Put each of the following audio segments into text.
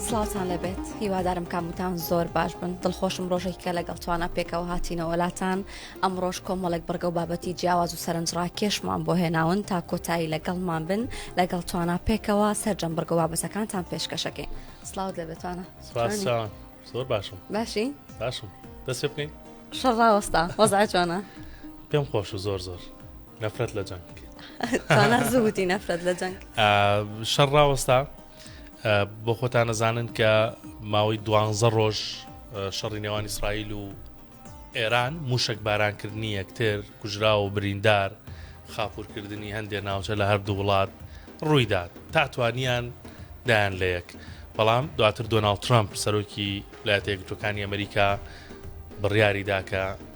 سلاوتان لەبێت هیوادارم کامتان زۆر باش بن دڵخۆشم ڕۆژێکە لەگەڵ توانە پێکەوە هاتینەوەلاتان ئەم ڕۆژ کۆمەڵێک بڕگە و بابەتی جیاواز و سەرنجڕاکێشمان بۆ هێناون تا کۆتایی لەگەڵمان بن لەگەڵ توانە پێکەوە سەررجەم بڕگە بابەتەکانتان پێشکەشەکەین سلااو لەبێتوانە زۆر باشم باشی باشم دەست بکەین شەڕاوەستا وەزا جوانە پێم خۆش و زۆر زۆر نەفرەت لە جەنگ زووتی نەفرەت لە جەنگ شەڕ ڕاوەستا بۆ خۆتان نەزانن کە ماوەی دوانزە ڕۆژ شەڕی نێوان ئیسرائیل و ئێران موشک بارانکردنی یەکتر کوژرا و بریندار خاپورکردنی هەندێ ناوچە لە هەردوو وڵات ڕوویدا تا توانیان دایان لە یەک بەڵام دواتر دۆناالد ترامپ سەرۆکی لاتێکتوەکانی ئەمریکا بڕیاریداکە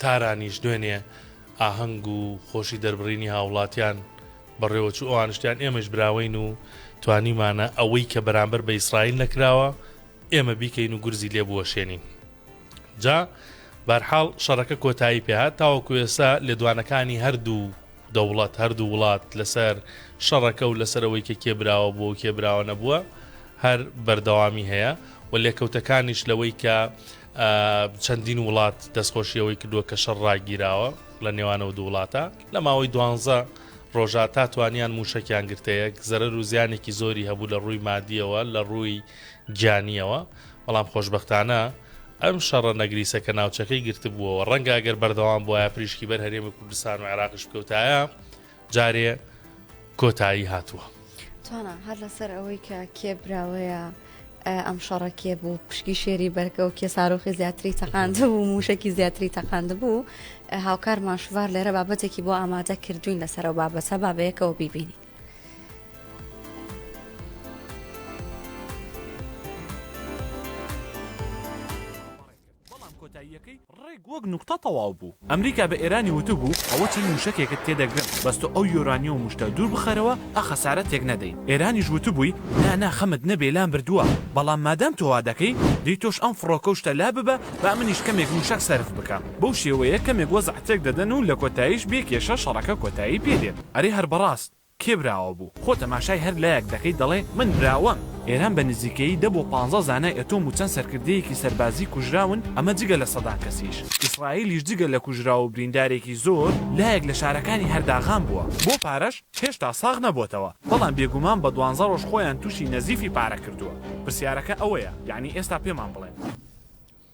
تارانیش دوێنێ ئاهەنگ و خۆشی دەربڕینی هاوڵاتیان بەڕێوەچوو ئەوانشتیان ئێمەش براوەین و توانیمانە ئەوەی کە بەرامبەر بە ئیسرائیل نەکراوە ئێمە بیکەین و گورزی لێ بوەشێنین جا بەرحاڵ شەڕەکە کۆتایی پێهات تاوەکو ئێستا لێدوانەکانی هەردوو دەوڵەت هەردوو وڵات لەسەر شەڕەکە و لەسەرەوەی کە کێبراوە بۆ کێبراوە نەبووە هەر بەردەوامی هەیە و لێکەوتەکانیش لەوەی کە چەندین وڵات دەستخۆشی ئەوەی کردووە کە شەڕ ڕاگیراوە لە نێوانەوە دوو وڵاتە لە ماوەی دوانزە ڕۆژە تا توانیان موشەکیان گرتەیەک زەرەر و زیانێکی زۆری هەبوو لە ڕووی مادیەوە لە ڕووی گیانیەوە بەڵام خۆشببختانە ئەم شەڕە نەگریسە کە ناوچەکەی گرتبووەوە ڕەنگە ئەگەر بەردەوام بواە پریشکی بەر هەرێمی کوردستان و عێراقش بکەوتایە جارێ کۆتایی هاتووە. توانا هەر لەسەر ئەوەی کە کێ براوەیە ئەم شەڕە کێ بوو پشکی شێری بەرگە و کێ سارۆخی زیاتری تەقاند بوو موشکی زیاتری تەقاند بوو هاوکار ماشوار لێرە بابەتێکی بۆ ئامادە کردوین لەسەرەوە بابەتە بابەیەکەوە بیبینی بەڵام کۆتاییەکەی ڕێک وەک نوکتە تەواو بوو. ئەمریکا بە ئێرانی وتبوو ئەوە چەند مووشەکێکت تێ دەگرم بەس تۆ ئەو یۆرانیۆم و شتە دوور بخەرەوە ئە خەسارە تێک نەدەین. ئێرانیش وتبووی نا نا خەمت نەبێ لام بردووە بەڵام مادام تۆ وا دەکەی دەی تۆش ئەم فڕۆکە و شتە لا ببە با منیش کەمێک مووشەک سەرف بکەم. بەو شێوەیە کەمێک وەزع تێک دەدەن و لە کۆتاییش بێ کێشە شەڕەکە کۆتایی پێ دێت. ئەرێ هەر بەڕاست. کێ براوە بوو؟ خۆ تەماشای هەر لایەک دەکەیت دەڵێ من براوەم! ئێران بە نزیکەیی دە بۆ پانزە زانای ئەتۆم و چەند سەرکردەیەکی سەربازی کوژراون، ئەمە جگە لە سەدان کەسیش. ئیسرائیلیش جگە لە کوژراو و بریندارێکی زۆر لایەک لە شارەکانی هەر داغان بووە. بۆ پارەش هێشتا ساغ نەبۆتەوە، بەڵام بێگومان بە دوانزە ڕۆژ خۆیان تووشی نەزیفی پارە کردووە. پرسیارەکە ئەوەیە یەعنی ئێستا پێمان بڵێن.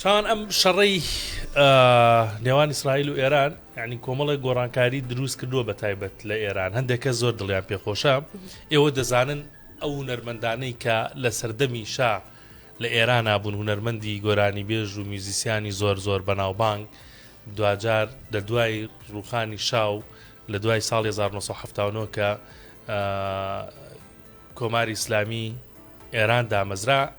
چۆن ئەم شەڕەی نێوان ئیسرائیل و ئێران یعنی کۆمەڵی گۆڕانکاری دروست کردووە بە تایبەت لە ئێران هەندێک کە زۆر دڵیان پێخۆشە ئێوە دەزانن ئەو هونەرمەندانەی کە لە سەردەمی شا لە ئێران نابوون هونەرمەندی گۆرانی بێژ و میوزیسیانی زۆر زۆر بەناوبانگ دواجار لە دوای ڕوخانی شاو لە دوای ساڵ 1970 کە کۆماری ئیسلامی ئێران دامەزرا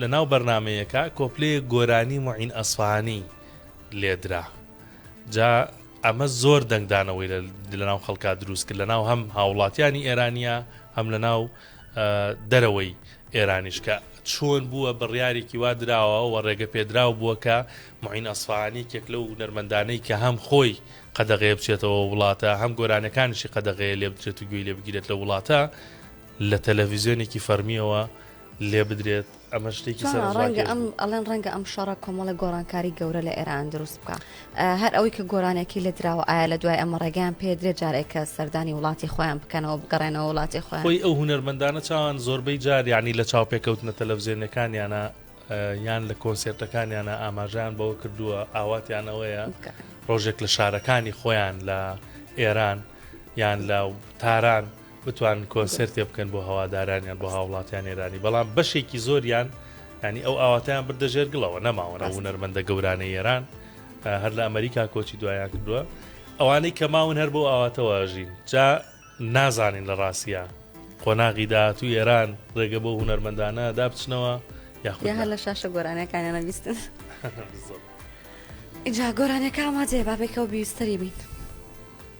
لە ناو بەرنامەیەکە کۆپلەیەک گۆرانی موعین ئەسفەهانی لێ درا جا ئەمە زۆر دەنگدانەوەی لە ناو خەڵکا دروست کرد لە ناو هەم هاوڵاتیانی ئێرانیا هەم لە ناو دەرەوەی ئێرانیش کە چۆن بووە بڕیارێکی وا دراوە و ڕێگە پێدراو بووە کە معین ئەسفانی کێک لەو نەرمەندانەی کە هەم خۆی قەدەغێ بچێتەوە وڵاتە هەم گۆرانەکانشی قەدەغەیە لێ بدرێت و گوێی لێ بگیرێت لە وڵاتە لە تەلەڤیزیۆنێکی فەرمیەوە لێ بدرێت ئەمە شتێکی سەر ڕەنگە ئەم ئەڵێن ڕەنگە ئەم شەڕە کۆمەڵە گۆڕانکاری گەورە لە ئێران دروست بکە هەر ئەوەی کە گۆرانێکی لە دراوە ئایا لە دوای ئەمە ڕێگەیان پێ درێ جارێکە سەردانی وڵاتی خۆیان بکەنەوە بگەڕێنەوە وڵاتی خۆی خۆی ئەو هوەرمەندانە چاوان زۆربەی جار ینی لە چاو پێکەوتنە تەلەڤزیۆنەکانیانە یان لە کۆنسێرتەکانیانە ئاماژیان بەوە کردووە ئاواتیانەوەیە ڕۆژێک لە شارەکانی خۆیان لە ئێران یان لە تاران بتوانن کۆنسێرتێ بکەن بۆ هەوادارانیان بۆ هاوڵاتیان ئێرانی بەڵام بەشێکی زۆریان ینی ئەو ئاواتیان بردە ژێر گڵەوە نەماوەە هونەرمەندە گەورانە ئێران هەر لە ئەمریکا کۆچی دوایان کردووە ئەوانەی کە ماون هەر بۆ ئاواتەوەژین جا نازانین لە ڕاستە قۆناغی داهاتوو ئێران ڕێگە بۆ هونەرمەندانە دابچنەوە یاخود هەر لە شاشە گۆرانەکانیانە بیستن ئیجا گۆرانەکە ئاماجێ بابێکەوە بیستری بیت.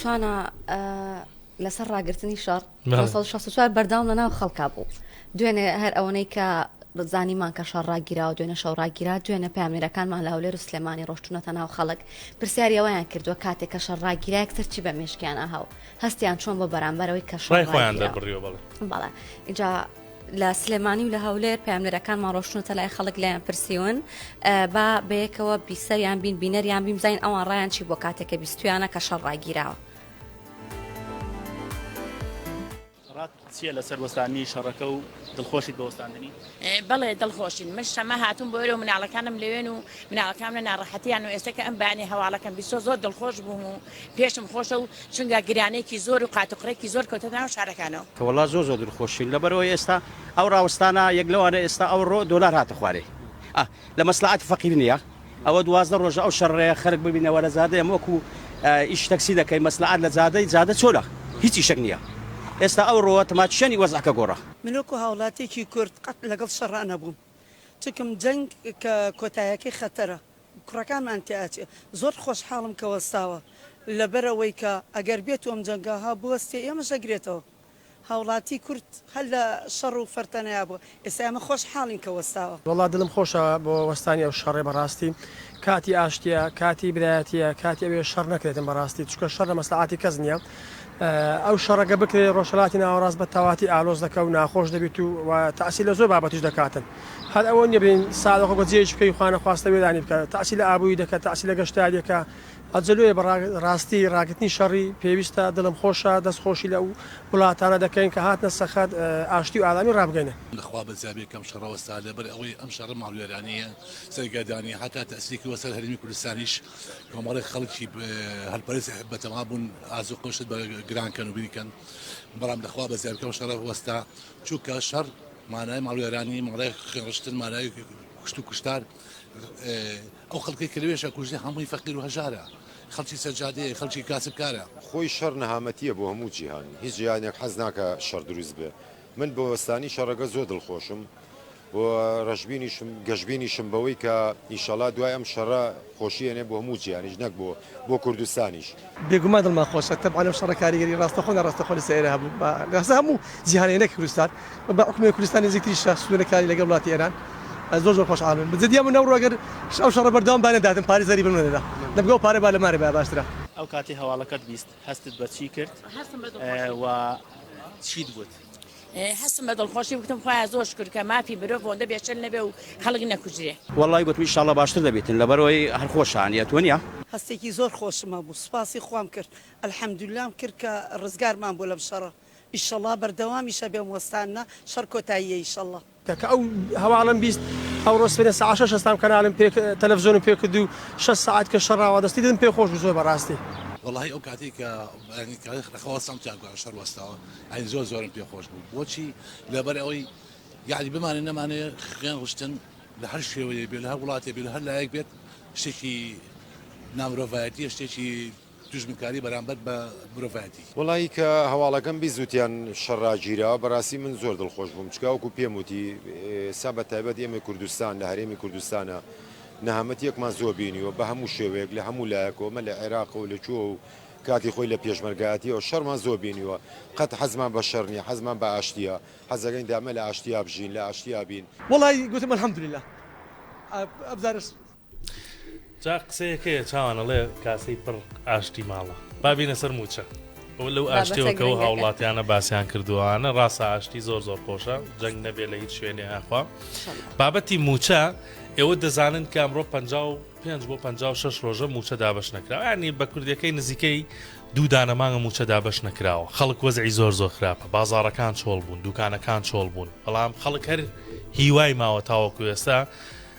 چوانە لەسەر ڕاگررتنی شەڕ چوار بەرداوم لە ناو خەڵکا بوو دوێنێ هەر ئەوەی کە زانیمان کە شەڕ ڕاگیرا و دوێنە شەو ڕاگیرا دوێنە پامێرەکانمان لە هەولێر و سلێمانی ڕۆشتونەتە ناو خەڵک پرسیاریەوەیان کردووە کاتێک کە شەڕ ڕاگیرا کتەرچی بە مشکیانە هاو هەستیان چۆن بۆ بەرامبەرەوەی کە شڕای خۆیان دەبڕیەوە بەڵێ بەڵێ اینجا لە سلێمانی و لە هەولێر پاملەرەکانمان ڕۆشتونەتە لای خەڵک لایان پرسیون با بەیەکەوە بیسەریان بین بینەریان بیم زین ئەوان ڕایان چی بۆ کاتێکە بیستویانە کە شەڕ ڕاگیراوە. چیە لەسەر وەستانی شەڕەکە و دڵخۆشیت بە وەستاندنی بەڵێ دڵخۆشین من شەمە هاتون بۆ ئێرە و مناڵەکانم لەوێن و مناڵەکانە ناڕەحەتیان و ئێستا کە ئەم بانێ هەواڵەکەم بیسۆ زۆر دڵخۆش بووم و پێشم خۆشە و چونگا گرانێکی زۆر و قاتوقڕێکی زۆر کەوتە ناو شارەکانەوە. کە وەڵا زۆر زۆر دلخۆشین لەبەر ئەوەی ئێستا ئەو ڕاوەستانە یەک لەوانە ئێستا ئەو ڕۆ دۆلار هاتە خوارێ ئا لە مەسلەعەتی فەقیر نیە ئەوە دوازدە ڕۆژە ئەو شەڕەیە خەرک ببینە وەرە جادەی ئەم وەکو ئیش تەکسی دەکەی مەسلەعەت لە جادەی جادە چۆلە هیچ ئیشەک نیە ئێستا ئەو ڕۆە تماچشانی وەزعەکە گۆڕا. من وەکو هاوڵاتیەکی کورد قەت لەگەڵ شەڕا نەبووم چونکم جەنگ کە کۆتایەکەی خەتەرە. کوڕەکانمان تیاچێ زۆر خۆشحاڵم کە وەستاوە لەبەرئەوەی کە ئەگەر بێتو ئەم جەنگە ها بوەستێ ئێمەش ئەگرێتەوە هاوڵاتی کورد هەر لە شەڕ و فەرتەنەیا بوە ئێستا ئێمە خۆشحاڵین کە وەستاوە. وەڵا دلم خۆشە بۆ وەستانی ئەو شەڕێ بەڕاستی کاتی ئاشتیە کاتی برایەتیە کاتی ئەوێ شەڕ نەکرێتن بەڕاستی چونکە شەڕ لە مەسلەعاتی کەس نیە. ئەو شەڕەگە بکرێت ڕۆژهەلاتی ناوەڕاست بە تەواتی ئالۆز دەکە و ناخۆش دەبیت و وە تاسیر لە زۆر بابەتیش دەکاتن هەر ئەوە نیە بلین سادە خۆ گەجێیش بکەی خوا نەخواستە وێرانی بکە تاسیر لە ئابوری دەکە تاسیر لە گەشتاریەکە ئەجەلۆیە بە ڕاستی ڕاگرتنی شەڕی پێویستە دلم خۆشە دەست خۆشی لە ئەو ولاتانە دەکەین کە هاتنە سەخەت ئاشتی و ئارامی ڕابگەینن. لەخوا بەزیابێ کەم شەڕە وەستا لەبەر ئەوەی ئەم شەڕە ماڵوێرانیە سەرگەردانیە هەتا تاسیری کردوە سەر هەرێمی کوردستانیش. کۆمەڵێک خەڵکی هەلپەرست بەتەما بوون ئازو قۆشت بە گران کەن و بیکەن بەڵام دەخوا بە زیابکەم شەڕە وەستا چووکە شەڕ مانای ماڵوێرانی مەڵێک خوێڕشتن مانای کوشت و کوشتار ئەو خەڵکی کە لەوێشە کوژی هەمووی فەقیر و هەژارە خەڵکی سەرجادەیە خەڵکی کاسبکارە خۆی شەڕ نەهامەتیە بۆ هەموو جیهان هیچ جیهانێک حەز ناکە شەڕ دروست بێ من بە وەستانی شەڕەکە زۆر دڵخۆشم و رەشبینیشم گەشبینیشم بەوەی کە ئینشەڵا دوای ئەم شەڕە خۆشی ئەنێ بۆ هەموو جیهانیش نەک بۆ بۆ کوردستانیش. بێگومان دڵمان خۆشە تەبعەن ئەم شەڕە کاریگەری ڕاستەخۆ و ناڕاستەخۆ لەسەر ئێرە هەبوو بە لەسەر هەموو جیهانێ نەک کوردستان و بە حوکمی کوردستان نزیکتریشە سنوورەکانی لەگەڵ وڵاتی ئێران زۆر زۆر خۆشحاڵبن بە جدی ئەمن ئەوڕۆ گەر ئەو شەڕە بەردەوام بانەداتن پارەی زەریبن وەرنەدا دەبگا و پارە بالەمانێ بایە باشترە. ئەو کاتەی هەواڵەکەت بیست هەستت بە چی کرد و چیت بوت؟ هەستم بە دڵخۆشی بکتم خخوایە زۆر شکر کە مافی مرۆڤ بۆندە بێچەل نەبێ و خەڵک نەکوژرێ. وەڵڵای گوتم ئیشاڵڵا باشتر دەبیتن لەبەرئەوەی هەر خۆشە نیە تۆ نیە. هەستێکی زۆر خۆشم هەبوو سوپاسی خوام کرد الحمدللەم کرد کە ڕزگارمان بوو لەم شەڕە ئیشەڵا بەردەوامیش ئەبێ ئەم وەستانە شەڕ کۆتاییە ئیشەڵا. کە کە ئەو هەواڵەم بیست ئەوڕۆ سبەینێ سەعات شەش هەستام کەنالم پێ تەلەفزۆنم پێ کرد و شەش سەعات کە شەر ڕاوا دەستی دلم پێ خۆش بوو زۆر بەڕاستی. وەڵاهی ئەو کاتەی کە یانی کە لە خەوا هەستام تیا گویا شەر وەستاوە یانی زۆر زۆرم پێ خۆش بوو بۆچی لەبەر ئەوەی یانی بمانێ نەمانێ خوێن ڕشتن لە هەر شێوەیەک بێ لە هەر وڵاتێ بێ لە هەر لایەک بێت شتێکی نامرۆڤایەتیە شتێکی دوژمنکاری بەرامبەر بە مرۆڤایەتی. وەڵایی کە هەواڵەکەم بیست وتیان شەڕ ڕاگیرا بەڕاستی من زۆر دڵخۆش بووم چکا وەکو پێم وتی ئێستا بە تایبەت ئێمەی کوردستان لە هەرێمی کوردستانا نەهامەتیەکمان زۆر بینیوە بە هەموو شێوەیەک لە هەموو لایەکەوە مە لە عێراقە و لە کوێوە و کاتی خۆی لە پێشمەرگایەتیەوە شەڕمان زۆر بینیوە قەت حەزمان بە شەڕ نیە حەزمان بە ئاشتیە حەزەکەین دامە لە ئاشتیا بژین لە ئاشتیا بین. وەڵایی گوتم الحمدللە ئەبزارس. جا قسەیەک هەیە چاوان ئەڵێ کاسەی پڕ ئاشتی ماڵە با بینە سەر موچە ئەو لەو بابەتە ئاشتیەوە کە و گرنگەکە. هاوڵاتیانە باسیان کردووانە ڕاستە ئاشتی زۆر زۆر خۆشە جەنگ نەبێ لە هیچ شوێنێ ئاخوا انشالله. بابەتی موچە ئێوە دەزانن کە ئەمڕۆ 55 بۆ 56 ڕۆژە موچە دابش نەکراوە ینی بە کوردەکەی نزیکەی دوو دانە مانگە موچە دابش نەکراوە خەڵک وەزعی زۆر زۆر خراپە بازاڕەکان چۆڵ بوون دوکانەکان چۆڵ بوون بەڵام خەڵک هەر هیوای ماوە تاوەکو ئێستا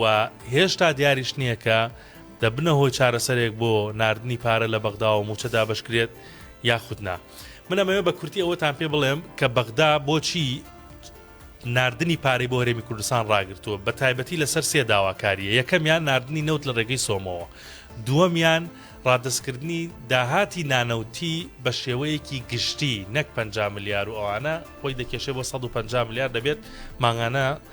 و هێشتا دیاریش نییە کە دەبنە هۆی چارەسەرێک بۆ ناردنی پارە لە بەغدا و مووچە دابەشکرێت یاخود نا. من ئەمەوێت بە کورتی ئەوەتان پێ بڵێم کە بەغدا بۆچی ناردنی پارەی بۆ هەرێمی کوردستان ڕاگرتووە، بە تایبەتی لەسەر سێ داواکارییە، یەکەمیان ناردنی نەوت لە ڕێگەی سۆمۆوە، دووەمیان ڕادەستکردنی داهاتی نانەوتی بە شێوەیەکی گشتی نەک پەنجا ملیار و ئەوانە خۆی دەکێشێ بۆ سەد و پەنجا ملیار دەبێت مانگانە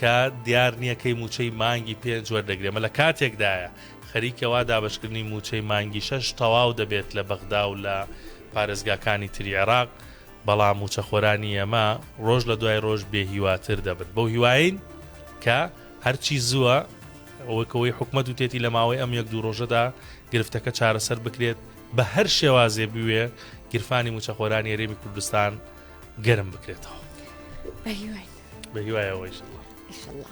کە دیار نییە کەی مووچەی مانگی پێنج وەردەگرێ، مە لە کاتێکدایە خەریکە وا دابەشکردنی مووچەی مانگی شەش تەواو دەبێت لە بەغدا و لە پارێزگاکانی تری عێراق، بەڵام مووچەخۆرانی ئێمە ڕۆژ لە دوای ڕۆژ بێ هیواتر دەبن، بەو هیواین کە هەرچی زووە وەک ئەوەی حکومەت وتێتی لە ماوەی ئەم یەک دوو ڕۆژەدا گرفتەکە چارەسەر بکرێت، بە هەر شێوازێ بوێ گیرفانی مووچەخۆرانی هەرێمی کوردستان گەرم بکرێتەوە. بە هیوای ئەوە ئیشەڵڵا ئیشەڵڵا.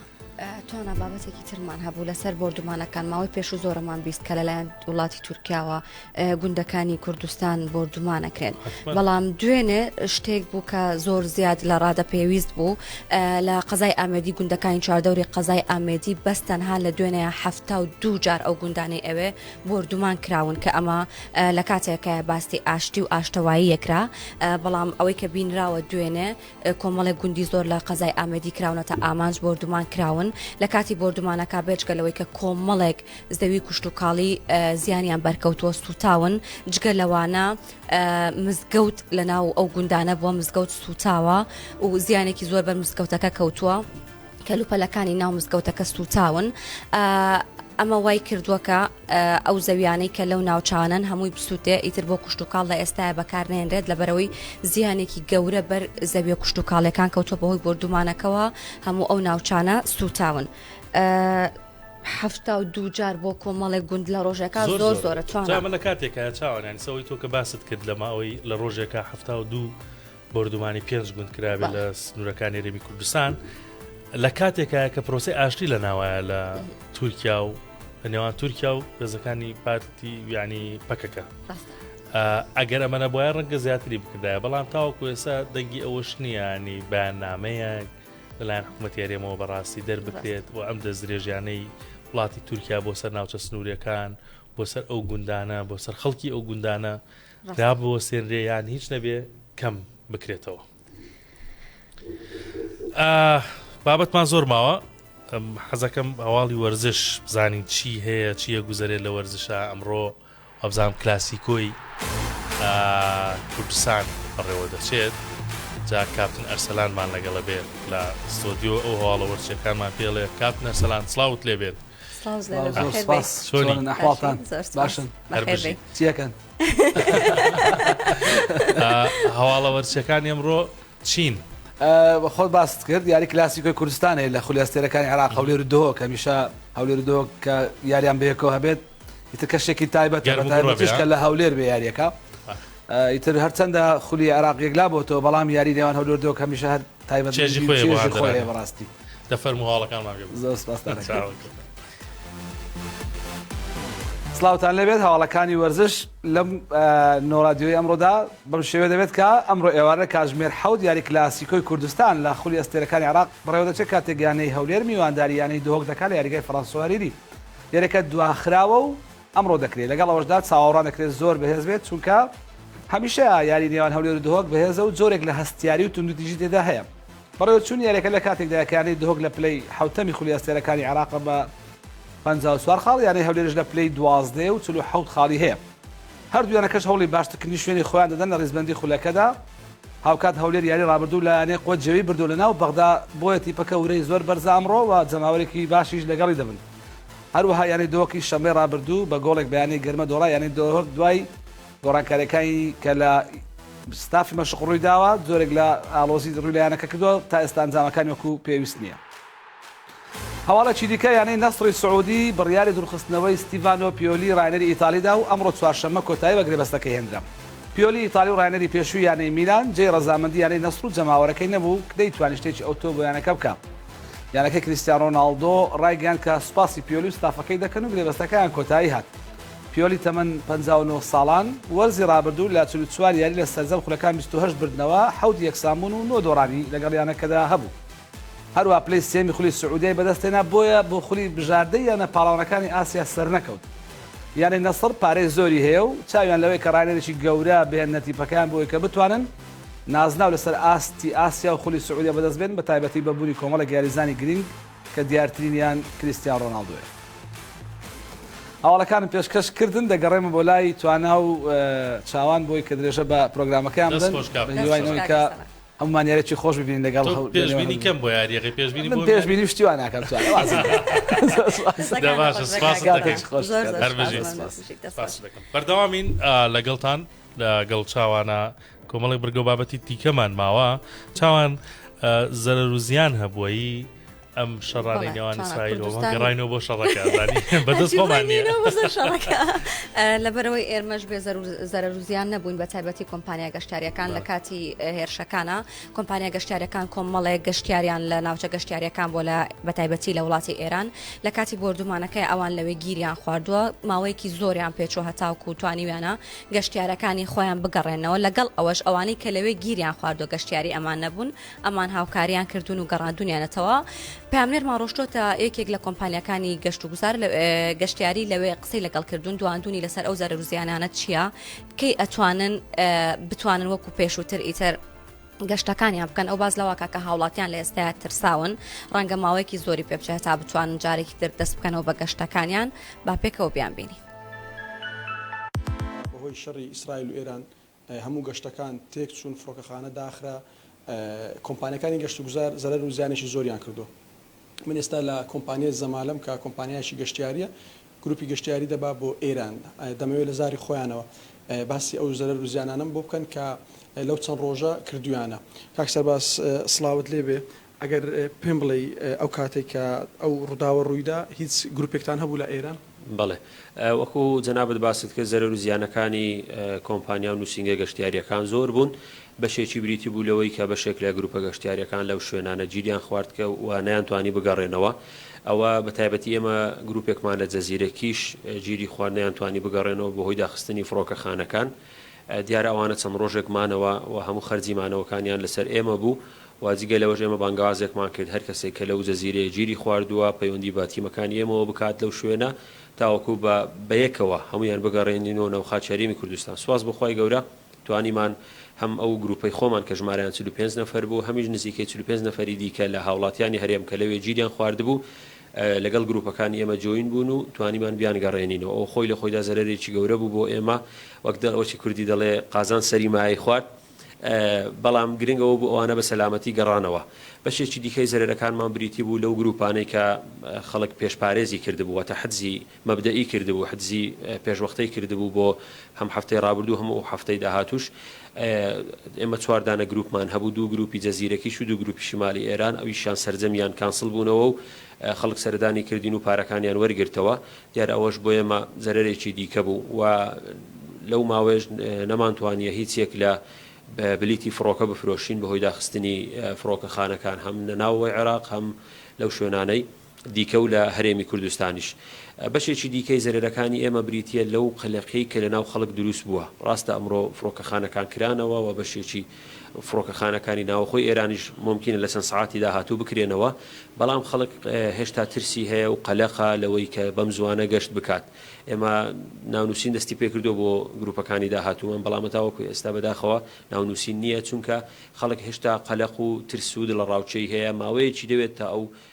توانا بابەتێکی ترمان هەبوو لەسەر بردومانەکان ماوەی پێش و زۆرەمان بیست کە لەلایەن وڵاتی تورکیاوە ئە، گوندەکانی کوردستان بردومانەکرێن حتما. بەڵام دوێنێ شتێک بوو کە زۆر زیاد لە ڕادە پێویست بوو ئە، لە قەزای ئامێدی گوندەکانی چواردەوری قەزای ئامێدی بەس تەنها لە دوێنێ هەفتا و دوو جار ئەو گوندانەی ئەوێ بردومان کراون کە ئەمە ئە، لە کاتێکە باستی ئاشتی و ئاشتەوایی یەکرا ئە، بەڵام ئەوەی کە بینراوە دوێنێ کۆمەڵێک گوندی زۆر لە قەزای ئامەدی کراونەتە ئامانج بۆردومان کراون لە کاتی بۆردومانەکە بێجگە لەوەی کە کۆمەڵێک زەوی کوشت و کاڵی زیانیان بەرکەوتووە سوتاون جگە لەوانە مزگەوت لە ناو ئەو گوندانە بووە مزگەوت سوتاوە و زیانێکی زۆر بەر مزگەوتەکە کەوتووە کەلوپەلەکانی ناو مزگەوتەکە سوتاون ئەمە وای کردووەکە ئەو زەویانەی کە لەو ناوچانەن هەمووی بسووتێ ئیتر بۆ کوشتتوکاڵ لە ئێستاە بەکارنێنرێت لەبەرەوەی زیانێکی گەورە بەر زەویە کوشتتوکاڵەکان کەوتۆ بەهۆی بردومانەکەەوە هەموو ئەو ناوچانە سووتاون. حفتا و دووجار بۆ کۆمەڵێک گوند لە ڕۆژێکا زۆر زۆرە چوانە لە کاتێکە چاوانانی سەوەی تۆ کە باست کرد لەماوەی لە ڕۆژێکا حفتا و دوو بۆردومانی پێنج گوند کرابێت لە سنوورەکانی هەرێمی کوردستان لە کاتێکە کە پرۆسی ئاشتی لە ناوایە لە تورکیا و لە نێوان تورکیا و بێزەکانی پارتی ویانی پەکەکە ئەگەر ئەمەە بۆە ڕەنگە زیاتری بکردایە بەڵام تاوەکو ئێسا دەنگی ئەوەش نییانی بەیاننامەیە لەلایەن حکوومەت یارێمەوە بەڕاستی دەربکرێت و ئەم دەستدرێژیانەی وڵاتی تورکیا بۆ سەر ناوچە سنوورەکان بۆ سەر ئەو گوندانە بۆ سەر خەڵکی ئەو گوندانە دابوەستێنرێ یان هیچ نەبێ کەم بکرێتەوە بابەتمان زۆر ماوە حەزەکەم هەواڵی وەرزش بزانین چی هەیە چیە گوزەرێت لە وەرزشە ئەمڕۆ ئەبزانام کلاسیکۆی کوردستان بەڕێوە دەچێت جا کاپتن ئەرسەلانمان لەگەڵە بێت لە ستۆدیۆ ئەو هەواڵە وەرچەکانمان پێڵێ کاپتن ئەرسەلان سلااوت لێبێت هەواڵە وەرچەکان ئەمڕۆ چین خۆ باست کرد یاری کلاسیکۆی کوردستانی لە خولیاستێرەکانی عراق هەولێر و دۆک هەمیشە هەولێر و دۆک کە یاریان بەیەکەوە هەبێت ئیتر کەشێکی تایبەت کە لە هەولێر بێ یاریەکە ئیتر هەرچەندە خولی عراق یەکلا بۆتەوە بەڵام یاری نێوان هەولێر دۆک هەمیشە هەر چێژی خۆیە بۆ هەردەرانی بەڕاستی دە فەرموو هەواڵەکانمان پێ زۆر سپاستان چاوەکەت سلااوان لەبێت هەواڵەکانی وەرزش لەم نۆرادیۆی ئەمڕۆدا بەم شێوێ دەبێت کە ئەمڕۆ ئێوارە کاژمێر حەوت یاری کلاسیکۆی کوردستان لە خولی ئەستێرەکانی عراق بڕێوەدەچێت کاتێکگانەی هەولێر میوانداریانەی دۆک دەکات لە یاریگای فەرانسوەریری یاریەکە دواخراوە و ئەمڕۆ دەکرێت، لەگەڵ ئەوەشدا چاوەڕوان دەکرێت زۆر بەهێز بێت، چونکە هەمیشە یاری نێوان هەولێر و دهۆک بەهێزە و جۆرێک لە هەستیاری و توندوتیژی تێدا هەیە. بەڕێوەچوونی یاریەکە لە کاتێکدایە کە یانەی دهۆک لە پلەی حەوتەمی خولی ئەستێرەکانی عێراقە بە پەنجا و چوار خاڵ، یانەی هەولێریش لە پلەی دوازدە ە و چل و حەوت خاڵی هەیە. هەردوو یانەکەش هەوڵی باشترکردنی شوێنی خۆیان دەدەن لە ریزبەندی خولەکەدا، هاوکات هەولێر یاری رابردوو لە یانەی قوە جێوی بردووە لەناو بەغدا، بۆیە تیپەکە ورەی زۆر بەرزە ئەمڕۆ و جەماوەرێکی باشیش لەگەڵی دەبن. هەروەها یانەی دۆهۆکی شەممەی رابردوو بە گۆڵێک بە یانەی گەرمە دۆڕا، یانەی دۆهۆک دوای گۆڕانکارییەکانی کە لە ستافی مەشق روویداوە، جۆرێک لە ئاڵۆزی رووی لە یانەکە کردووە، تا ئێستا ئەنجامەکان وەکو پێویست نییە. هەواڵێکی دیکە، یانەی نەسڕی سعودی بڕیاری دوورخستنەوەی ستیڤانۆ پیۆلی راهێنەری ئیتاڵی دا و ئەمڕۆ چوارشەممە کۆتایی بە گرێبەستەکەی هێنرا. پیۆلی ئیتاڵی و راهێنەری پێشووی یانەی میلان، جێی رەزامەندی یانەی نەسڕ و جەماوەرەکەی نەبوو، نەیتوانی شتێکی ئەوتۆ بۆ یانەکە بکا. یانەکەی کریستیان رۆناڵدۆ رایگەیاند کە سوپاسی پیۆلی و ستافەکەی دەکەن و گرێبەستەکەیان کۆتایی هات. پیۆلی تەمەن پەنجا و نۆ ساڵان، وەرزی رابردوو لە چل و چوار یاری لە سەرجەم خولەکان بیست و هەشت بردنەوە، حەوت یەکسانبوون و نۆ دۆڕانی لەگەڵ یانەکەدا هەبوو. هەروەها پلەی سێیەمی خولی سعودیای بەدەستهێنا، بۆیە بۆ خولی بژاردەی یانە پاڵەوانەکانی ئاسیا سەرنەکەوت. یانەی نەسڕ پارەی زۆری هەیە و چاویان لەوەیە کە راهێنەرێکی گەورە بهێننە تیپەکەیان بۆی کە بتوانن نازناو لەسەر ئاستی ئاسیا و خولی سعودیە بەدەست بێن، بەتایبەتی بە بوونی کۆمەڵێک یاریزانی گرینگ کە دیارترینیان کریستیان ڕۆناڵدۆیە. هەواڵەکانم پێشکەش کردن، دەگەڕێمە بۆ لای توانا و چاوان بۆی کە درێژە بە پرۆگرامەکەیان بدەن، بە هیوای ئەوەی کە هەموومان یاریێکی خۆش ببینین لەگەڵ هەوڵ پێشبینی کەم بۆ یاریەکەی پێشبینی بۆ پێشبینی و شتی وا ناکەم توانا وازم دە باشە سپاست دەکەین هەر بژیت سپاست دەکەم بەردەوامین لەگەڵتان لەگەڵ چاوانە. کۆمەڵێک بڕگەو بابەتی دیکەمان ماوە چاوان زەرەروزیان هەبووی ئەم شەڕانی نێوان ئیسرائیل گەڕینەوە بۆ شەڕەکە بەدەست لەبەرەوەی ئێرمەش بێ زەرروزیان نەبووین بە تایبەتی کۆمپانیا گەشتارەکان لە کاتی هێرشەکانە کۆمپانیا گەشتارەکان کۆمەڵێک گەشتیاریان لە ناوچە گەشتیارەکان بۆ لە بەتایبەتی لە وڵاتی ئێران لە کاتی بردومانەکەی ئەوان لەوێ گیریان خواردووە ماوەیەکی زۆریان پێچۆ هەتاوکو توانیویانە گەشتیارەکانی خۆیان بگەڕێننەوە، لەگەڵ ئەوەش ئەوانەی کە لەوێ گیریان خواردوە گەشتیاری ئەمان نەبوون، ئەمان هاوکاریان کردوون و گەڕاندوونیانەتەوە. پەیامنێرمان ڕۆشتووەتە یەکێک لە کۆمپانیاکانی گەشتوگوزار، گەشتیاری لەوێ قسەی لەگەڵ کردوون، دواندوونی لەسەر ئەو زەرەر و زیانانە چییە، کەی ئەتوانن بتوانن وەکو پێشووتر ئیتر. گەشتەکانیان بکەن، ئەو باس لەوەکە کە هاوڵاتیان لە ئێستایا ترساون، ڕەنگە ماوەیەکی زۆری پێ بچێت هەتا بتوانن جارێکی تر دەست بکەنەوە بە گەشتەکانیان، با پێکەوە بیانبینین. بەهۆی شەڕی ئیسرائیل و ئێران هەموو گەشتەکان تێکچوون، فڕۆکەخانە داخرا، کۆمپانیاکانی گەشتوگوزار زەرەر و زیانێکی زۆریان کردووە. من ئێستا لە کۆمپانیای زەمالەم کە کۆمپانیایەکی گەشتیارییە، گروپی گەشتیاری دەبا بۆ ئێران دەمەوێ لە زاری خۆیانەوە باسی ئەو زەرەر و زیانانەم بۆ بکەن کە لەو چەند ڕۆژە کردویانە. کاک سەرباز سڵاوت لێ بێ ئەگەر پێم بڵێی ئەو کاتەی کە ئەو ڕوداوە ڕویدا هیچ گروپێکتان هەبوو لە ئێران؟ بەڵێ وەکو جەنابت باست کرد زەرەر و زیانەکانی کۆمپانیا و نوسینگە گەشتیاریەکان زۆر بوون بەشێکی بریتی بوو لەوەی کە بەشێک لە گروپە گەشتیارییەکان لەو شوێنانە گیریان خوارد کە و نەیانتوانی بگەڕێنەوە ئەوە بە تایبەتی ئێمە گروپێکمان لە جزیرە کیش گیری خوارد نەیانتوانی بگەڕێنەوە بەهۆی داخستنی فڕۆکەخانەکان دیارە ئەوانە چەند ڕۆژێک مانەوە و هەموو خەرجی مانەوەکانیان لەسەر ئێمە بوو و جگە لەوەش ئێمە بانگەوازێکمان کرد هەر کەسێک کە لەو جزیرەیە گیری خواردووە پەیوەندی بە تیمەکانی ئێمەوە بکات لەو شوێنە تاوەکو بە بەیەکەوە هەموویان بگەڕێنینەوە ناو خاکی هەرێمی کوردستان سوپاس بۆ خوای گەورە توانیمان هەم ئەو گروپەی خۆمان کە ژمارەیان چل و پێنج نەفەر بوو، هەمیش نزیکەی چل و پێنج نەفەری دیکە لە هاوڵاتیانی هەرێم کە لەوێ گیریان خواردبوو، لەگەڵ گروپەکانی ئێمە جۆین بوون و توانیمان بیانگەڕێنینەوە. ئەوە خۆی لە خۆیدا زەرەرێکی گەورە بوو بۆ ئێمە، وەک دەرەوەکی کوردی دەڵێ، قازان سەری مایەی خوارد. بەڵام گرنگ ئەوە بوو ئەوانە بە سەلامەتی گەڕانەوە. بەشێکی دیکەی زەرەرەکانمان بریتی بوو لەو گروپانەی کە خەڵک پێشپارێزی کردبوو، واتە حجزی مەبدەئی کردبوو، حجزی پێشوەختەی کردبوو بۆ هەم هەفتەی ڕابردوو هەم ئەو هەفتەی داهاتووش ئێمە چوار دانە گروپمان هەبوو دوو گروپی جەزیرەکیش و دوو گروپی شیمالی ئێران ئەویشیان سەرجەمیان کانسڵ بوونەوە و خەڵک سەردانی کردین و پارەکانیان وەرگرتەوە دیارە ئەوەش بۆ ئێمە زەرەرێکی دیکە بوو و لەو ماوەیەش نەمانتوانییە هیچ یەک لە بلیتی فڕۆکە بفرۆشین بەهۆی داخستنی فڕۆکەخانەکان هەم لە ناوەوەی عێراق هەم لەو شوێنانەی دیکە و لە هەرێمی کوردستانیش. بەشێکی دیکەی زەرەرەکانی ئێمە بریتییە لەو قەلەقیەی کە لەناو خەڵک دروست بووە. ڕاستە ئەمڕۆ فڕۆکەخانەکان کرانەوە و بەشێکی فڕۆکەخانەکانی ناوەخۆی ئێرانیش مومکینە لە چەند سەعاتی داهاتوو بکرێنەوە، بەڵام خەڵک هێشتا ترسی هەیە و قەلەقە لەوەی کە بەم زووانە گەشت بکات. ئێمە ناونووسین دەستی پێ کردووە بۆ گروپەکانی داهاتوومان، بەڵام تاوەکو ئێستا بەداخەوە ناونووسین نییە، چونکە خەڵک هێشتا قەلەق و ترس و دڵەڕاوکێی هەیە، ماوەیەکی دەوێت تا ئەو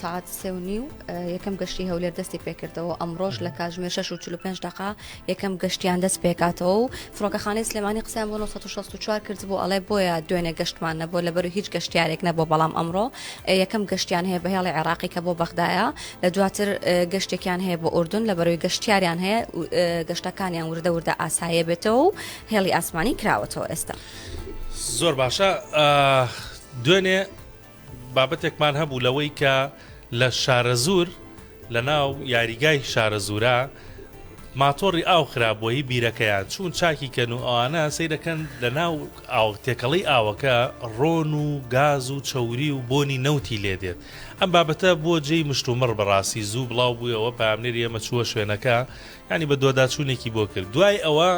سەعات سێ و نیو یەکەم گەشتی هەولێر دەستی پێکردەوە ئەمڕۆژ لە کاتژمێر 6 و 45 دقا یەکەم گەشتیان دەست پێکاتەوە و فڕۆکەخانەی سلێمانی قسەیان بۆ 1964 کرد بۆ ئەڵێ بۆیە دوێنێ گەشتمان نەبوو لەبەر هیچ گەشتیارێک نەبوو بەڵام ئەمڕۆ یەکەم گەشتیان هەیە بەهێڵی عێراقی کە بۆ بەغدایە لە دواتر گەشتێکیان هەیە بۆ ئوردن لە بەرەوەی گەشتیاریان هەیە گەشتەکانیان وردە وردە ئاسایە بێتەوە و هێڵی ئاسمانی کراوەتەوە ئێستا زۆر باشە دوێنێ بابەتێکمان هەبوو لەوەی کە لە شارەزوور لە ناو یاریگای شارەزوورە ماتۆڕی ئاو خرابووە هی بیرەکەیان چوون چاکی کەن و ئەوانە سیرەکەن لە ناو ئاو تێکەڵی ئاوەکە ڕۆن و گاز و چەوری و بۆنی نەوتی لێ دێت ئەم بابەتە بۆ جێی مشتومڕ بەڕاستی زوو بڵاو بوویەوە پامنێری ئێمە چووە شوێنەکە ینی بە دۆداچوونێکی بۆ کرد دوای ئەوە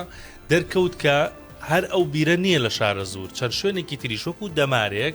دەرکەوت کە هەر ئەو بیرە نییە لە شارە زوور چەند شوێنێکی تریشۆک و دەمارێک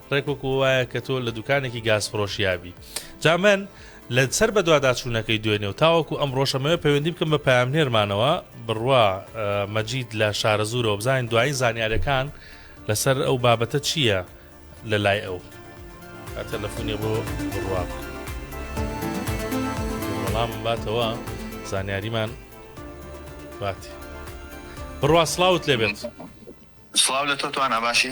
ڕێک وەکو وایە کە تۆ لە دوکانێکی گاز فڕۆشیابی جا من لە سەر بەدواداچوونەکەی دوێنێ و تاوەکو ئەم ڕۆژەمەوە پەیوەندی بکەم بە پامنێرمانەوە بڕوا مەجید لە شارە زورەوە بزانین دوایی زانیارەکان لەسەر ئەو بابەتە چییە لە لای ئەو تەلەفۆنی بۆ بڕوا بەڵام باتەوە زانیاریمان باتی بڕوا سلااوت لێبێت سلااو لە تۆتوان ئەباشی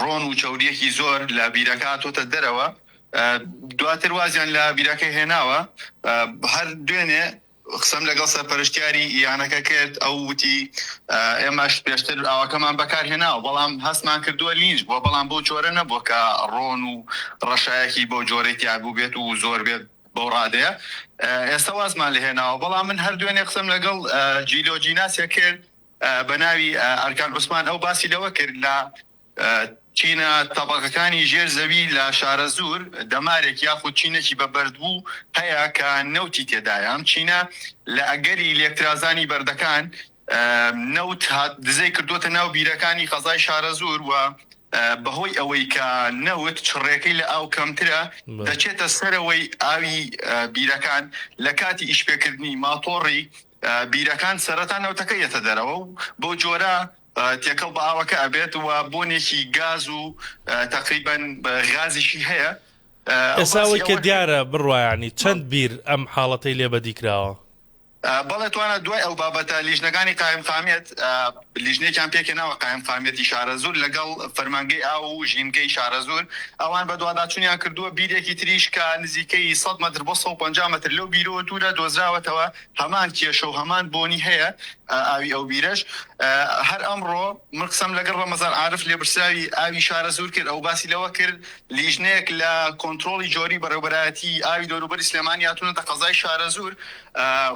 ڕۆن و چەوریەکی زۆر لە بیرەکە هاتۆتە دەرەوە دواتر وازیان لە بیرەکە هێناوە هەر دوێنێ قسەم لەگەڵ سەرپەرشتیاری یانەکە کرد ئەو وتی ئێمەش پێشتر ئاواکەمان بەکارهێناوە بەڵام هەستمان کردووە لینج بووە بەڵام بۆ جۆرە نەبووە کە ڕۆن و ڕەشایەکی بۆ جۆرەی تیاگو بێت و زۆر بێت بەو ڕادەیە ئێستا وازمان لە هێناوە بەڵام من هەر دوێنێ قسەم لەگەڵ جیلۆجیناسە کرد بەناوی ئەرکان عوسمان ئەو باسی لەوە کرد لە چینە تەبەقەکانی ژێر زەوی لە شارەزوور دەمارێک یاخود چینەکی بە بەردبوو هەیە کە نەوتی تێدایە ئەم چینە لە ئەگەری لێکترازانی بەردەکان نەوت هات دزەی کردووەتە ناو بیرەکانی قەزای شارەزوور و بەهۆی ئەوەی کە نەوت چڕێکەی لە ئاو کەمترە دەچێتە سەرەوەی ئاوی بیرەکان لە کاتی ئیشپێکردنی ماتۆڕی بیرەکان سەرەتا نەوتەکە یەتە دەرەوە و بەو جۆرە تێکەڵ بە ئاوەکە ئەبێت و بۆنێکی گاز و تەقریبەن غازیشی هەیە. ئێستا ئەوەی کە دیارە بڕوا یانی چەند بیر ئەم حاڵەتەی لێ بەدی کراوە؟ بەڵێ توانا دوای ئەو بابەتە لیژنەکانی قایمقامیەت لیژنەیەکیان پێکهێناوە قایمقامیەتی شارەزوور لەگەڵ فەرمانگەی ئاو و ژینگەی شارەزوور، ئەوان بەدواداچوونیان کردووە، بیرێکی تریش کە نزیکەی سەد مەتر بۆ سەد و پەنجا مەتر لەو بیرەوە دوورە دۆزراوەتەوە هەمان کێشە و هەمان بۆنی هەیە ئاوی ئەو بیرەش هەر ئەمڕۆ من قسەم لەگەڵ ڕەمەزان عارف لێبرسراوی ئاوی شارەزوور کرد ئەو باسی لەوە کرد لیژنەیەک لە کۆنترۆڵی جۆری بەڕێوەبەرایەتی ئاوی دەوروبەری سلێمانی هاتوونەتە قەزای شارەزوور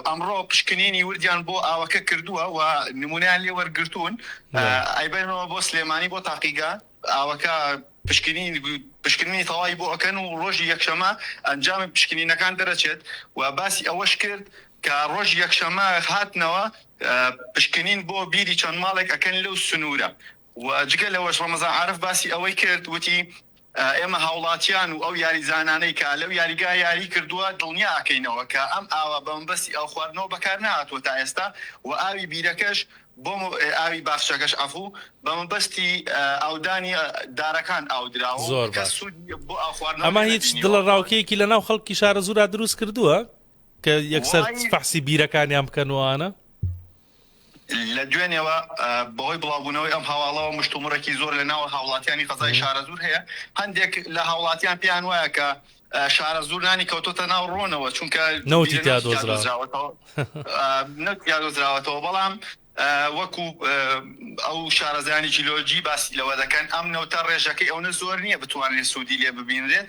ئەمڕۆ پشکنینی وردیان بۆ ئاوەکە کردووە و نمونەیان لێ وەرگرتوون، ئەیبەنەوە بۆ سلێمانی بۆ تاقیگە ئاوەکە پشکنینی تەواوی بۆ ئەکەن و ڕۆژی یەکشەمە ئەنجامی پشکنینەکان دەرەچێت و باسی ئەوەش کرد کە ڕۆژی یەکشەمە هاتنەوە پشکنین بۆ بیری چەند ماڵێک ئەکەن لەو سنوورە و جگە لەوەش ڕەمەزان عارف باسی ئەوەی کرد وتی، ئێمە هاوڵاتیان و ئەو یاریزانانەی کە لەو یاریگایە یاریی کردووە دڵنیا ئەکەینەوە کە ئەم ئاوە بە مەبەستی ئاوخواردنەوە بەکار نەهاتووە تا ئێستا و ئاوی بیرەکەش بۆ ئاوی باخچەکەش عەفوو بە مەبەستی ئاودانی دارەکان ئاو دراوە و کەس سوودی بۆ ئاوخواردنەوە نەبینیوە. ئەمە هیچ دڵەڕاوکێیەکی لەناو خەڵکی شارەزوورا دروست کردووە کە یەکسەر فەحسی بیرەکانیان بکەن و ئەوانە؟ لە دوێنێوە بەهۆی بڵاوبوونەوەی ئەم هەواڵەوە مشتومڕێکی زۆر لە ناوە هاوڵاتیانی قەزای شارەزوور هەیە، هەندێک لە هاوڵاتیان پێیان وایە کە شارەزوور نانی کەوتۆتە ناو ڕۆنەوە چونکە نەوتی تیا دۆزراوەتەوە نەوتی تیا دۆزراوەتەوە بەڵام وەکو ئەو شارەزایانی جیلۆجی باسی لەوە دەکەن ئەم نەوتە ڕێژەکەی ئەونە زۆر نییە بتوانرێت سوودی لێ ببینرێت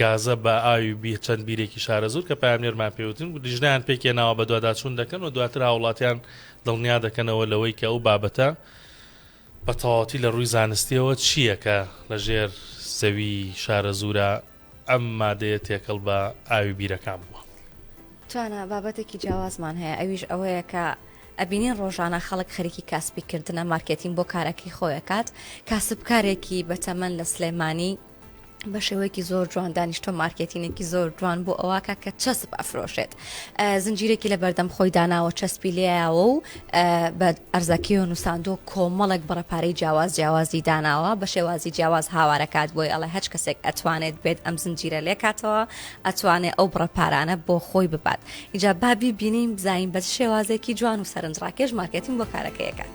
گازە با ئاوی بی چەند بیرێکی شارەزوور کە پەیامنێرمان پێ وتن و لیژنەیان پێک هێناوە بەدواداچوون دەکەن و دواتر هاوڵاتیان دڵنیا دەکەنەوە لەوەی کە ئەو بابەتە بە تەواوەتی لە ڕووی زانستیەوە چییە کە لە ژێر زەوی شارەزوورە ئەم مادەیە تێکەڵ بە ئاوی بیرەکان بووە. توانا بابەتێکی جیاوازمان هەیە ئەویش ئەوەیە کە ئەبینین ڕۆژانە خەڵک خەریکی کاسپی کردنە مارکێتین بۆ کارەکەی خۆی ئەکات کاسبکارێکی بەتەمەن لە سلێمانی، بە شێوەیەکی زۆر جوان دانیشتۆ مارکێتینێکی زۆر جوان بۆ ئەوکە کە چەسب ئەفرۆشێت زنجیرێکی لە بەردەم خۆی داناوە چەسپی لێیاوە و بە ئەرزەکی و نووساندۆ کۆمەڵێک بڕەپارەی جیاواز جیاوازی داناوە بە شێوازی جیاواز هاوارەکات بۆی ئەڵێ هەچ کەسێک ئەتوانێت بێت ئەم زنجیرە لێکاتەوە ئەتوانێت ئەو بڕەپارانە بۆ خۆی ببات ئیجا بابی بینیم بزانین بە شێوازێکی جوان و سەرنجڕاکێش مارکێتین بۆ کارەکەیەکات.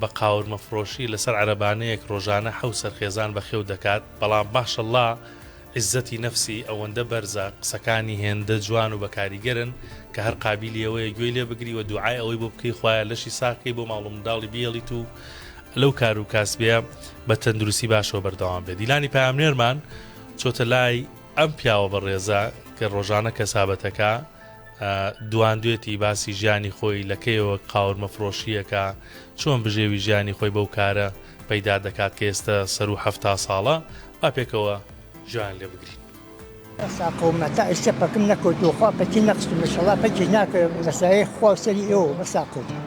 بە قاورمە فڕۆشی لەسەر عەرەبانەیەک ڕۆژانە حەوت سەر خێزان بەخێو دەکات بەڵام ماشەڵا عیزەتی نەفسی ئەوەندە بەرزە قسەکانی هێندە جوان و بەکاریگەرن کە هەر قابیلی ئەوەیە گوێی لێ بگری و دوعای ئەوەی بۆ بکەی خوایە لەشی ساغ کەی بۆ ماڵ و منداڵی بیێڵیت و لەو کار و کاسبیە بە تەندروستی باشەوە بەردەوام بێت دیلانی پامنێرمان چۆتە لای ئەم پیاوە بەڕێزە کە ڕۆژانە کەسابەتەکە دواندوێتی باسی ژیانی خۆی لە کەیەوە قاورمە فرۆشی ئەکا چۆن بژێوی ژیانی خۆی بەو کارە پەیدا دەکات کە ئێستە سەرو حەفتا ساڵە با پێکەوە ژۆیان لێ بگرین. ئەسا قەوما تا ئیستە پەکم نەکەوتوە خوا پەکی نەخستوم ئیشەڵا پەکی ناکەوێ بەسایەی خوا و سەری ئێوە بەسا قەوما.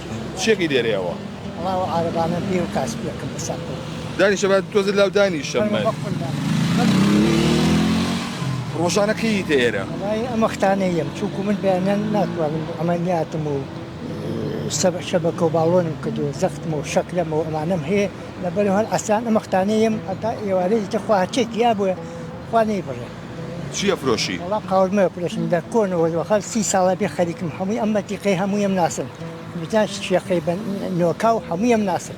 چیەکەی دێرێ وە. وەڵا ئەو عارەبانە بێ و کاسپیەکەم بە سەر خۆم. دانیشە با تۆزێ لاو دانیشە من. بەخۆ ڕۆژانە کەییتە ئێرە؟ وەڵایی ئەم وەختانە یەم چونکوو من بەیانیان ناتوانم عەمەلیاتم و شەبەکە و باڵۆنم کردووە زەختم و شەکرەم و ئەمانەم هەیە لەبەرئەوە هەر عەسران ئەم وەختانە یەم هەتا ئێوارێ ئیتر خوا هەرچیەکی یابووە خوا نەیبڕێ. چی ئەفرۆشی؟ وەڵا قاوەرمە ئەفرۆشم لە کۆنەوە وە خەر سی ساڵە بێ خەریکم هەمووی ئەم مەتیقەی هەموویم ناسم بزان شێخەی بە نۆکاو هەموویم ناسم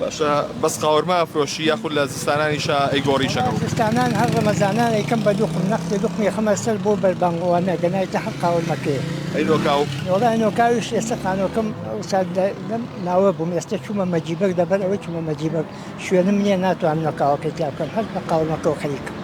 باشە بەس قاوەرمە ئەفرۆشی یاخود لە زستانانیشا ئەیگۆڕیشەکە زستانان هەر ڕەمەزانان ئەیکەم بە دوخم نەخسێ دوخمی خەمە سەر بۆ بەربانگوانە گەنایتە هەر قاوەرمەکەیە ئەی نۆکاو وەڵا نۆکاویش ئێستا خانۆکەم ئەوسا لەم ناوە بووم ئێستا چوومە مەجیبەک لەبەر ئەوەی چوومە مەجیبەک شوێنم نیە ناتوانم نقاوەکەی تیا بکەم هەر نقاو نقۆ خەریکم.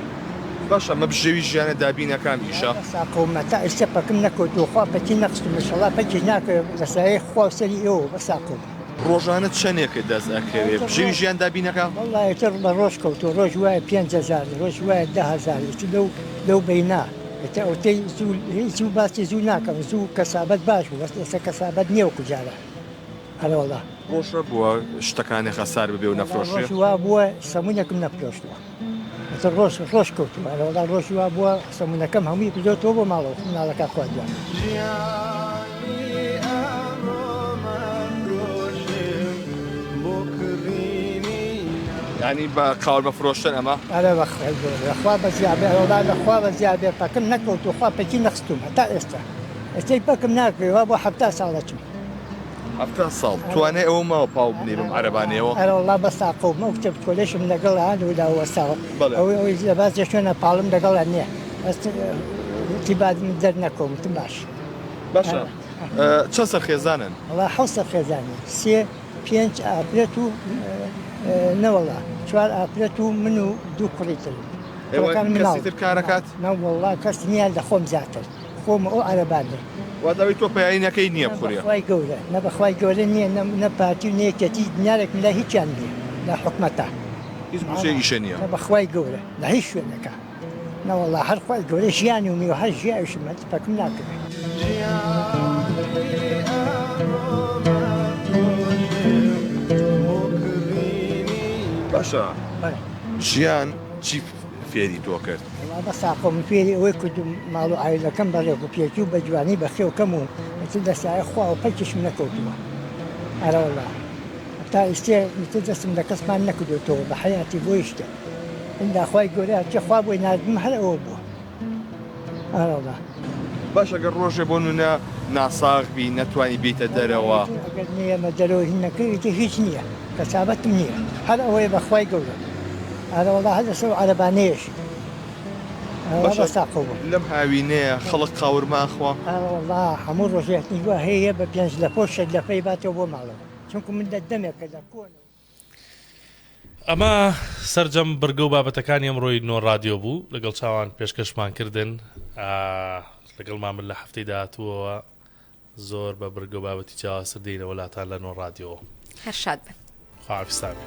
باشە ئەمە بژێوی ژیانە دابینە کام ئیشە؟ سا قوم تا ئیستا پەکم نەکەوتوە خوا پەکی نەخستوم ئیشەڵا پەکیش ناکەوێ بە سایەی خوا و سەری ئێوە بە سا قوم. ڕۆژانە چەنێکت دەست ئەکەوێ بژێوی ژیان دابینە کام؟ وەڵا ئیتر بە ڕۆژ کەوتوە ڕۆژ وایە پێنج هەزار ڕۆژ وایە دە هەزار ئیتر لەو لەو بەینا ئیتر ئەوتەی زوو زوو باسی زوو ناکەم زوو کەسابەت باش بوو بەس ئێستا کەسابەت نیە وەکو جاران. ئەرێ وەڵا. بۆ شە بووە شتەکانێ خەسار ببێ و نەفرۆشێ؟ ڕۆژ وا بووە سەمونێکم نەفرۆشتووە ئەتر ڕۆژ ڕۆژ کەوتووە ئەرێ وەڵا ڕۆژی وا بووە سەمونەکەم هەمووی کردۆتەوە بۆ ماڵەوە خۆ مناڵەکان خوا گیان یانی بە قاورمە فرۆشتن ئەمە؟ ئەرێ بە خوای گەورە لەخوا بە زیادە ئەرێ وەڵا لەخوا بە زیادە پەکم نەکەوتووە خوا پەکی نەخستوومە تا ئێستا ئەتەی پەکم ناکرێ وا بووە حەفتا ساڵەچم حەفتا ساڵ توانای ئەوە ماوە پاو بنێ بەم عەرەبانەیەوە؟ ئەرەوەڵڵا بەس تاقە و مەو کتێب کۆلێشم لەگەڵا هەردوولا وەستاوە بەڵێ. ئەوەی ئەوەی لە باس دەشێنە پاڵم لەگەڵا نییە بەس وتی با دەرنەکەوم وتم باش. باشە چەند سەرخێزانن؟ وەڵا حەوت سەرخێزانین سێ پێنج ئافرەت و نەوەڵڵا چوار ئافرەت و من و دوو کوڕی ترم. ئێوە کوڕەکان مناڵ. کەسی تر کار ئەکات؟ نەوەڵڵا کەس نییە لە خۆم زیاتر. خۆم ئەو عەرەبان دەکەم. وات ئەوەی تۆ پەیایی نەکەی نییە بخورێ. نە بەخوای گەورە نە بەخوای گەورە نییە نە نە پارتی و نە یەکێتی دنیارێکم لای هیچیان نییە لە حکومەتا. هیچ گوشەی ئیشە نییە. نە بەخوای گەورە لە هیچ شوێنێکا نەوەڵا هەر خوای گەورە ژیانی و میوە هەر ژیاویشم هەر تفەکم ناکەوێ. باشە ژیان چی. فێری تۆ کرد؟ وەڵا بەسە خۆ من فێری ئەوەی کردووم ماڵ و عایلەکەم بە ڕێک و پێکی و بە جوانی بەخێو کەم و ئیتر لە سایەی خوا و پەلکیشم نەکەوتووە ئەرەوەڵا هەتا ئیستێ ئیتر دەستم لە کەس پان نەکردۆتەوە بە حەیاتی بۆ هیچ شتێک ئیلا خوای گەورە هەرچی خوا بۆی ناردبم هەر ئەوە بووە. باش ئەگەر ڕۆژێ بۆ نونە ناساغ بی نەتوانی بیتە دەرەوە. ئەگەرمە دەرەوە هینەکەویتی هیچ نییە کەسابەتم نییە هەر ئەوەیە بەخوای گەورە ئارەوەڵا هەر لەسەر عەرەبانەیەشی لەم هاوینەیە خەڵک قاورمان خوا ئاوەڵا هەموو ڕۆژێتنی گوواهەیە بە پێنج لە پۆشت لەپەی باتەوە بۆ ماڵەوە چونکو من دە دەمێکە لە کۆن. ئەمە سەرجەم بڕگە و بابەتەکانی ئەمڕۆی نۆ ڕادیۆ بوو لەگەڵ چاوان پێشکەشمان کردن لەگەڵمان من لە هەفتەی داهاتووەوە زۆر بە بڕگە و بابەتی جیاوازتر دێنەوە لاتان لە نۆ ڕادیۆ هەر شاد بن خواویستان بێ.